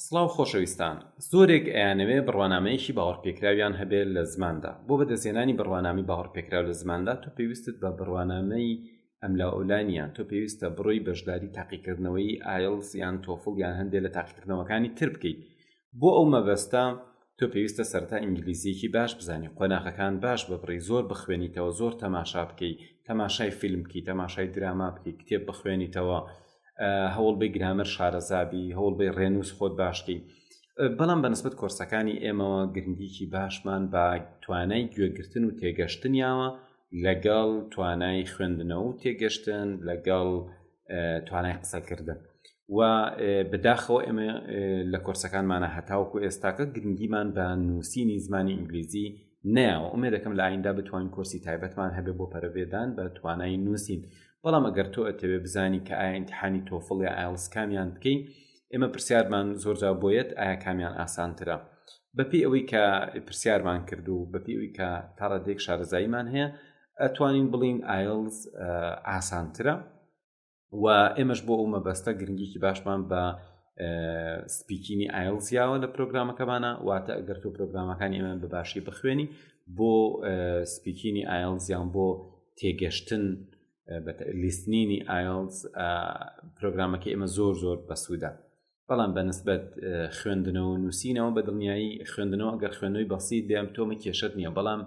سڵاو خۆشەویستان زۆرێک ئەیانەوێ بڕوانامەیەکی باوەڕپێکراویان هەبێ لە زماندا بۆ بەدەستهێنانی بڕوانامی باوەڕپێکراو لە زماندا تۆ پێویستت بە بڕوانامەی ئەملا ئەولا نییە تۆ پێویستە بڕۆی بەشداری تاقیکردنەوەی ئایڵس یان تۆفڵ یان هەندێ لە تاقیکردنەوەکانی تر بکەیت بۆ ئەو مەبەستە تۆ پێویستە سەرەتا ئینگلیزییەکی باش بزانی قۆناغەکان باش ببڕی زۆر بخوێنیتەوە زۆر تەماشا بکەی تەماشای فیلم بکەی تەماشای دراما بکەی کتێب بخوێنیتەوە هەوڵ بی گرامەر شارەزابی هەوڵ بی ڕێنووس خۆت باشکەی بەڵام بەنسبت کۆرسەکانی ئێمەوە گرنگیکی باشمان بە توانای گوێگرتن و تێگەشتنیاوە لەگەڵ توانای خوێندنەوە و تێگەشتن لەگەڵ توانای قسەکردن و بداخەوە ئێمە لە کۆرسەکانمانە هەتاوکو ئێستاکە گرنگیمان بە نووسینی زمانی ئینگلیزی ناوە ئومێ دەکەم لە ئایندا بتوانین کۆرسی تایبەتمان هەبێ بۆ پەرەێدان بە توانای نووسین بەڵام ئەگەر تۆ ئەتەوێ بزانی کە ئاینتحانی تۆفڵ یا ئایلس کامیان بکەین ئێمە پرسیارمان زۆرجا بۆیەت ئایا کامیان ئاسانترە بەپی ئەوەی کە پرسیارمان کرد و بەپی ئەوی کە تاڕادێک شارەزاییمان هەیە ئەتوانین بڵین ئایلز ئاسانترە و ئێمەش بۆ ئەو مەبەستە گرنگیکی باشمان بە سپیکینی ئایلزیاوە لە پرۆگرامەکەمانە واتە ئەگەر تۆ پرۆگرامەکانی ئێمە بە باشی بخوێنی بۆ سپیکینی ئایلزیان بۆ تێگەشتن لیستنینی ئایلز پرۆگرامەکە ئێمە زۆر زۆر بەسوودە بەڵام بەنسبەت خوێندنەوە نووسینەوە بە دڵنیایی خوێندنەوە گەر خوێنەوەی بەسییت بێم تۆمە کێشت نییە بەڵام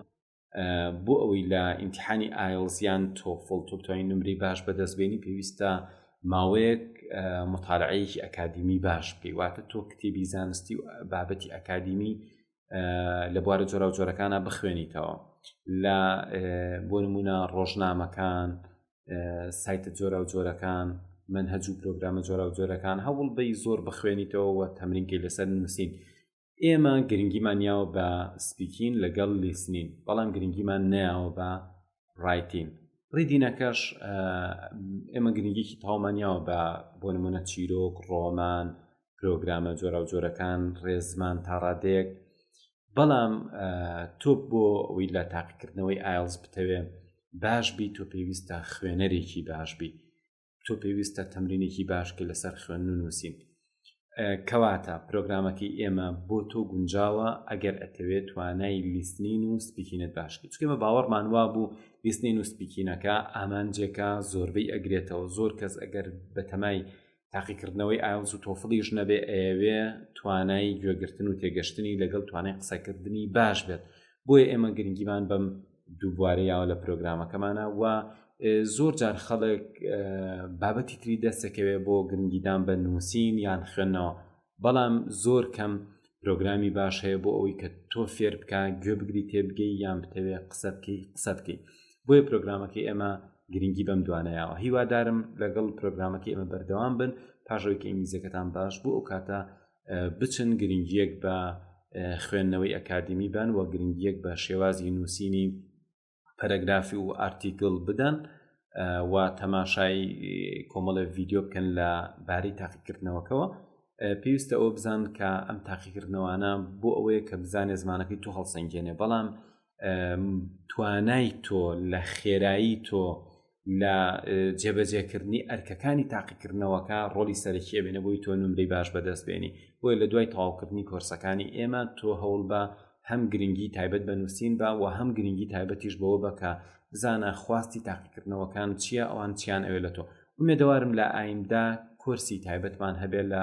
بۆ ئەوەی لە ئیمتحانی ئایلزیان تۆفڵ تۆپتوانی نمری باش بەدەستبێنی پێویستە ماوەیەک مطالعەیەکی ئەکادیمی باش بکەی واتە تۆ کتێبی زانستی و بابەتی ئەکادیمی لە بوارە جۆرا و جۆرەکانە بخوێنیتەوە لە بۆ نمونە ڕۆژنامەکان سایتە جۆرا و جۆرەکان من هەجوو پرۆگرامە جۆرا و جۆرەکان هەوڵ بی زۆر بخوێنیتەوە تەمرینکەی لەسەر نووسین ئێمە گرنگیمان یاوە بە سپیکین لەگەڵ لیسنین بەڵام گرنگیمان نیاوە بە ڕایتین ڕیدینەکەش ئێمە گرنگێکی تاومانیاوە بە بۆ نمونە چیرۆک ڕۆمان پرۆگرامە جۆرا و جۆرەکان ڕێزمان تا ڕادێک بەڵام تۆ بۆ ئەوی لە تاقیکردنەوەی ئایلز بتەوێ باش بی تۆ پێویستە خوێنەرێکی باش بی تۆ پێویستە تەمرینێکی باش کە لەسەر خوێن و نووسین کەواتە پرۆگرامەکەی ئێمە بۆ تۆ گونجاوە ئەگەر ئەتەوێت توانای لیستنین و سپیکینت باشکی چکێمە باوەڕمان وا بوو لیستنین و سپیکینەکە ئامانجێکە زۆربەی ئەگرێتەوە زۆر کەس ئەگەر بەتەمای تاقیکردنەوەی ئاوز و تۆفڵیش نەبێ ئەیەوێ توانای گوێگرتن و تێگەشتنی لەگەڵ توانای قسەکردنی باش بێت بۆیە ئێمە گرنگیمان بەم دووبوارە یاوە لە پرۆگرامەکەمانە و زۆر جار خەڵک بابەتی تری دەستەکەوێ بۆ گرنگیدان بە نووسین یان خوێندنەوە بەڵام زۆر کەم پرۆگرامی باش هەیە بۆ ئەوەی کە تۆ فێر بکە گوێ بگری تێبگەی یان بتەوێ قسە بکەی قسە بکەی بۆیە پرۆگرامەکەی ئێمە گرنگی بەم دوانەیەوە هیوادارم لەگەڵ پرۆگرامەکەی ئێمە بەردەوام بن پاشەوەی کە ئینگلیزەکەتان باش بوو ئەو کاتە بچن گرنگیەک بە خوێندنەوەی ئەکادمی بان و گرنگیەک بە شێوازی نووسینی پەرەگرافی و ئارتیکل بدەن و تەماشای کۆمەڵە ڤیددیو بکەن لە باری تاقیکردنەوەکەەوە پێویستە ئەوە بزان کە ئەم تاقیکردنەوەانە بۆ ئەوەیە کە بزانێ زمانەکەی تو هەڵسەنگێنێ بەڵام توانای تۆ لە خێرایی تۆ لە جێبەجێکردنی ئەرکەکانی تاقیکردنەوەکە ڕۆلی سەرکیە بێنە بۆی تۆ نمری باش بەدەست بێنی بۆی لە دوای تەواوکردنی کۆرسەکانی ئێمە تۆ هەوڵ بە هەم گرنگی تایبەت بە نووسین بە و هەم گرنگی تایبەتیش بەوە بەکە بزانە خواستی تاقیکردنەوەکان چییە ئەوان چیان ئەوێ لە تۆ ومێدەوارم لە ئایندە کۆرسی تایبەتمان هەبێت لە